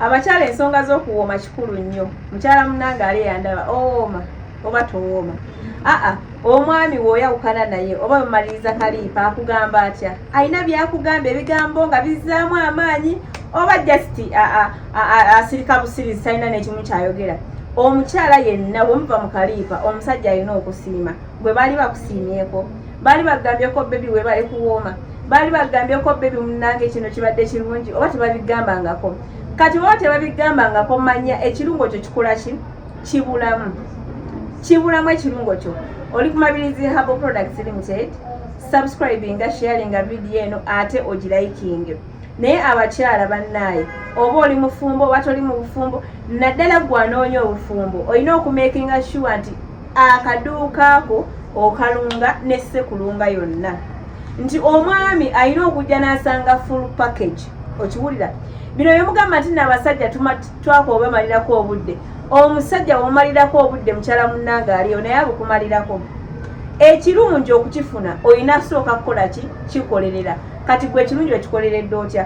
Abakyala ensonga z'okuwooma kikulu nnyo. Mukyala munnange ali eyandaba owooma oh, oba towooma. Aa omwami w'oyawukana naye oba mumaliriza kaliipa akugamba atya? Alina byakugamba ebigambo nga bizzaamu amaanyi oba just asirika busirizi talina n'ekimu ky'ayogera. Omukyala yenna bwe muva mu kaliipa omusajja alina okusiima. gwe baali bakusiimyeko baali bagambyeko bebi webale kuwooma baali bagambyeko bebi munange kino kibadde kirungi oba tebabigambangako kati baba tebabigambangako manya ekirungo kyo kikola ki kibulamu kibulamu ekirungo kyo oli ku mabirizi habo products limited subscribinga sharinga vidiyo eno ate ogilayikinge naye abakyala bannaaye oba oli mufumbo oba toli mu bufumbo naddala gwanoonya obufumbo olina okumekinga shuwa nti akaduuka ako okalunga ne sekulunga yonna nti omwami alina okujja n'asanga full package okiwulira bino byemugamba nti naabasajja twaka obemalirako obudde omusajja womalirako obudde mukyala munnange aliyo naye abukumalirako ekirungi okukifuna olina sooka kukola ki kikolerera kati gwe ekirungi okikoleredde otya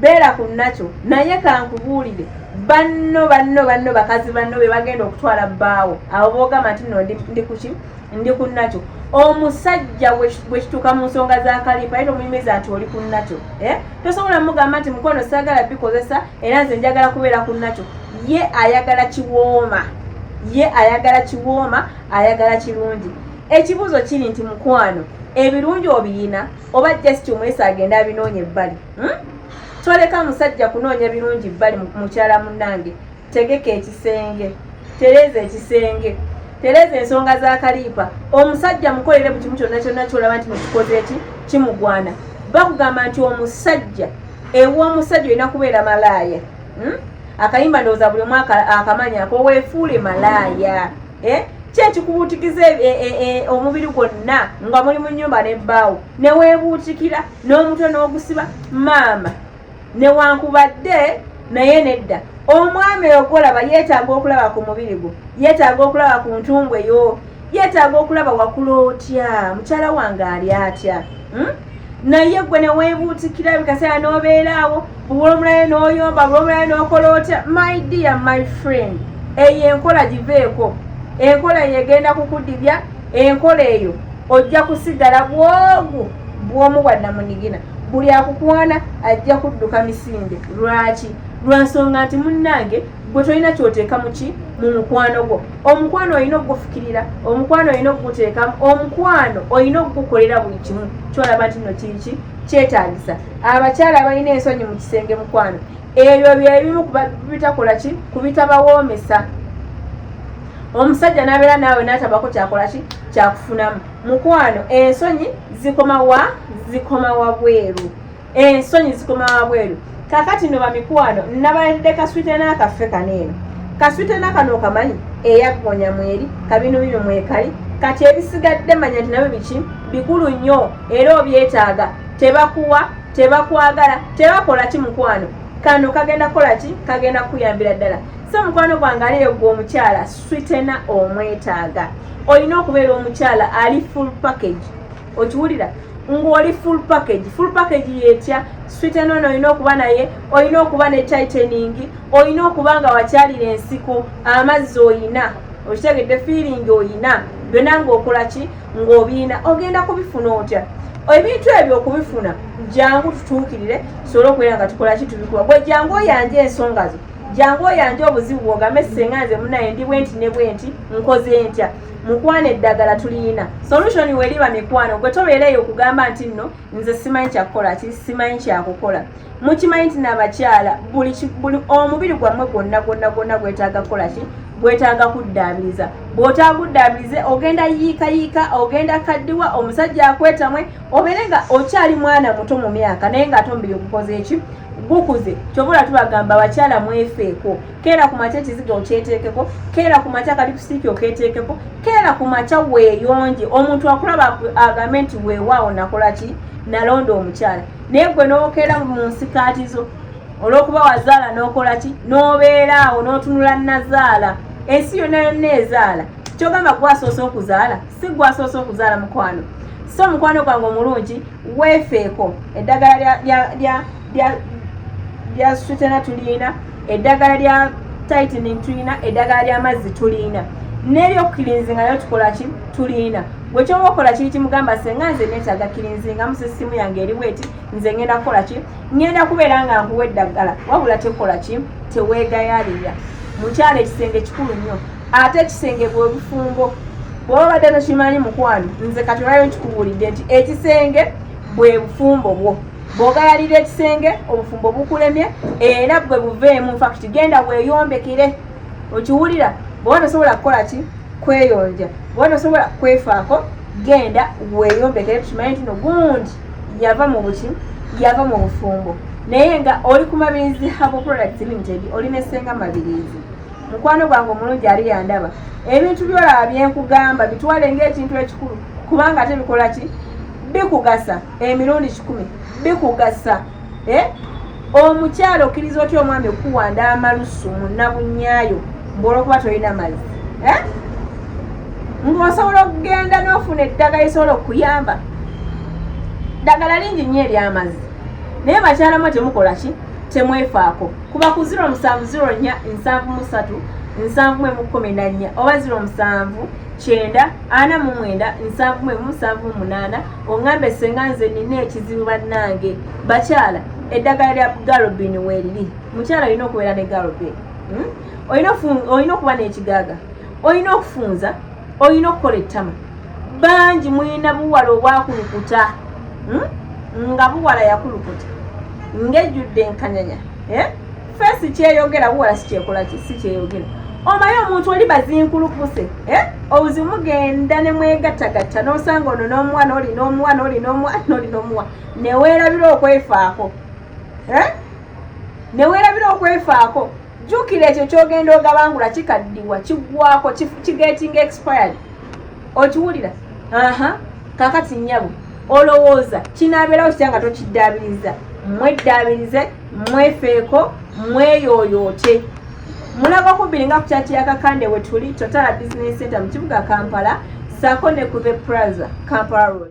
beera ku nakyo naye kankubuulire banno banno banno bakazi banno be bagenda okutwala bbaawo abo boogamba nti no ndi kuki ndi ku nakyo omusajja bwekituuka mu nsonga za kalipa ye tomuyimiza nti oli ku nakyo eh? tosobola mugamba nti mukwano saagala bikozesa era nze njagala kubeera ku nakyo ye ayagala kiwooma ye ayagala kiwooma ayagala kirungi ekibuuzo kiri nti mukwano ebirungi obiyina oba just omwesa agenda abinoonya ebbali hmm? toleka musajja kunoonya birungi bbali mukyala munange tegeka ekisenge tereeza ekisenge tereeza ensonga za kaliipa omusajja mukolere bukimu kyonna kyonna kyolaba nti mukikoze eki kimugwana bakugamba nti omusajja ew'omusajja olina kubeera malaaya hmm? akayimba ndowooza buli omwaka akamanyi akoweefuule malaaya eh? ki ekikubuutikiza e, e, e, omubiri gwonna nga muli mu nyumba nebbaawo neweebuutikira n'omutwe n'ogusiba maama newankubadde naye nedda omwami ogolaba yeetaaga okulaba ku mubiri gwo yeetaaga okulaba ku ntumbwe yo yeetaaga okulaba wakula otya mukyala wange ali atya hmm? naye gwe newebuutikira ebikaseera n'obeeraawo bubula omulayo n'oyomba bula omulayo n'okola otya my dear my friend eyo enkola giveeko enkola eyo egenda kukudibya enkola eyo ojja kusigala bwogu bwomu bwa namunigina buli akukwana ajja kudduka misinde lwaki lwansonga nti munnange gwe tolina kyoteeka muki mu mukwano gwo omukwano olina okugufukirira omukwano olina okuguteekamu omukwano olina okugukolera buli kimu kyolaba nti no kiki kyetagisa abakyala balina ensonyi mu kisenge mukwano ebyo byebimu kubitakola ki kubitabawoomesa omusajja nabeera naawe natabako kyakola ki kyakufunamu mukwano ensonyi zikomawa zikomawa bweru ensonyi eh, zikoma wabweru kakati no bamikwano nabaledde kaswite n'akaffe kano eno kaswite nakano okamanyi eyaggonya mweri kabino bino mwekali kati ebisigadde manya nti nabyo biki bikulu nnyo era obyetaaga tebakuwa tebakwagala tebakola ki mukwano kano kagenda kukola ki kagenda kukuyambira ddala so mukwano gwange aliyo gwe omukyala switena omwetaaga olina okubeera omukyala ali full package okiwulira ng'oli full package full package yetya swit enono olina okuba naye olina okuba ne titaning olina okuba nga wakyalira ensiko amazzi oyina okitegedde feeling oyina byona ngaokola ki ng'obiina ogenda kubifuna otya ebintu ebyo okubifuna jangu tutuukirire tusobole okubeera nga tukola ki tubikuba gwe jangu oyanja ensonga zo jangu oyanja obuzibu bwogambe senga nze munaye ndi bwenti ne bwenti nkoze ntya mukwana eddagala tuliyina solution weliba mikwano gwe tobeera eyo okugamba nti nno nze simanyi kyakukola ki simanyi kyakukola mukimanyi nti nabakyala buli omubiri gwammwe gwonna gwonna gwonna gwetaaga kukola ki gwetaaga kuddaabiriza bw'otaaguddaabirize ogenda yiikayiika ogenda kaddiwa omusajja akwetamwe obeere nga okyali mwana muto mu myaka naye ng'ate omubiri ogukoze eki gukuze kyobola tubagamba abakyala mwefeeko keera ku makya ekiziga okyeteekeko keera ku makya kali kusiiki oketeekeko keera ku makya weeyonje omuntu akulaba agambe nti weewaawo nakola ki nalonda omukyala naye gwe n'okeera mu nsikaati zo olw'okuba wazaala n'okola ki n'obeera awo n'otunula nazaala ensi yonna yonna ezaala kyogamba gwasoose okuzaala si gwasoose okuzaala mukwano so mukwano gwange omulungi weefeeko eddagala lya sutena tulina eddagala lya tightening tulina eddagala ly'amazzi tulina neryokukilinzinga nayo tukolaki tulina gwe kyoba okola kiri kimugamba senga nze netaaga kilinzinga musa essimu yange eri bweti nze ngenda kukola ki ngenda kubeera nga nkuwa eddagala wabula tekola ki teweegayalirya mukyalo ekisenge kikulu nnyo ate ekisenge bwe bufumbo bwoba badde tokimanyi mukwano nze kati olwayo nkikubuulidde nti ekisenge bwe bufumbo bwo bwogalalira ekisenge obufumbo bukulemye era bwe buveemu nfakti genda weyombekere okiwulira bwoba tosobola kukola ki kweyonja bwoba tosobola kwefaako genda weyombekere tukimanyi ntino gundi yava mu buki yava mu bufumbo naye nga oli ku mabirizi habo product limited oli nesenga mabirizi mukwano gwange omulungi ali yandaba ebintu byolaba byenkugamba bitwale ngaekintu ekikulu kubanga ate bikola ki bikugasa emirundi kikumi bikugasa eh? omukyalo okkiriza otya omwami okukuwanda amalusu munabunyayo mbolwokuba tolina mazzi eh? ngaosobola okugenda nofuna eddagala esobola okukuyamba ddagala lingi nnyo eryamazzi naye bakyalamu temukola ki temwefaako kuba ku 0704 nsanvu mwemu kkumi na nnya oba ziro musanvu kyenda ana mu mwenda nsanvu mwemu nsanvu munaana oŋŋambe senga nze nina ekizibu bannange bakyala eddagala lya galobini weeriri mukyala olina okubeera ne galobini hmm? olina okuba n'ekigaaga olina okufunza olina okukola ettama bangi mulina buwala obwakulukuta hmm? nga buwala yakulukuta ngejjudde enkanyanya eh? feesi kyeyogera buwala sikyekola si kyeyogera omaye omuntu oli bazinkulukuse eh? obuzi mugenda ne mwegattagatta n'osanga ono n'omuwa n'oli n'omuwa n'oli n'omuwa n'oli n'omuwa neweerabira okwefaako eh? neweerabira okwefaako jjukira ekyo kyogenda ogabangula kikaddiwa kiggwako kigetinga expired okiwulira aha kakati nyabo olowooza kinabeerawo kitya nga tokiddaabiriza mweddaabirize mwefeeko mweyooyoote mulago kubbiri nga kukyaki yakakande wetuli totala business center mu kibuga kampala saako ne ku the praza kampala road